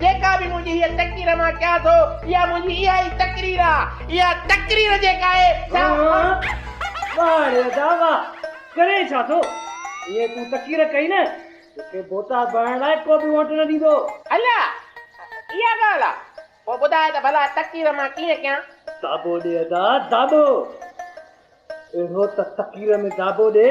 جيڪا به منهنجي هيء تقرير مان ڪيان ٿو، اها منهنجي اها ئي تقرير آهي. اها تقرير جيڪا آهي، سا آهي. واه ري ادا واه! ڪرين ڇا ٿو؟ ايئن تون تقرير ڪئين نه، توکي بوتا ڀرڻ لاء ڪو به ووٽ نه ڏيندو. الا! اها ڳالهه آهي. پوء ٻڌاء ته ڀلا تقرير مان ڪيئن ڪيان؟ داٻو ڏي ادا، داٻو. اهو ته تقرير ۾ جابو ڏي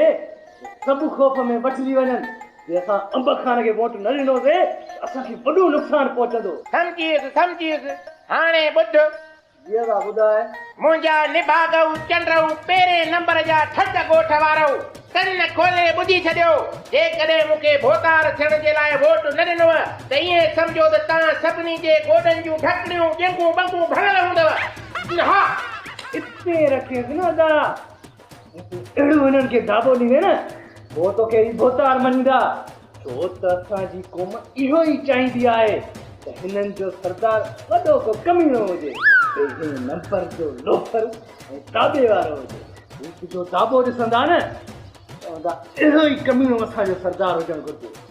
جو سڀ خوف ۾ وٺجي وڃن، جي اسان انب خان کي ووٽ نه ڏنوسين ته اسان کي وڏو نقصان پهچندو. سمجهيس سمجهيس، هاڻي ٻڌ. جيئي ٿا ٻڌاء. منهنجا نڀاڳئو چنڊئو پهرين نمبر جا ٺٽ ڳوٺ وارئو، ڪن کولي ٻڌي ڇڏيو، جيڪڏهن مون کي ڀوتار ٿيڻ جي لاء ووٽ نه ڏنوء ته ائين سمجهو ته توهان سڀني جي گوڏن جون ڍڪڻيون ڄنگهون ٻنگهون ڀڱل هوندؤ. اها پير رکيس نه ادا اهڙو هنن کي دابو ڏيندين نه پوء توکي هي ڀوتار مڃيندا ڇو ته اسان جي قوم اهو ئي چاهيندي آهي ته هنن جو سردار وڏو ڪو ڪميڻو هجي پهرين نمبر جو لوفر ۽ دابي وارو هجي هو تنهنجو دابو ڏسندا نه چوندا اهو ئي ڪميڻو اسان جو سردار هجڻ گهرجي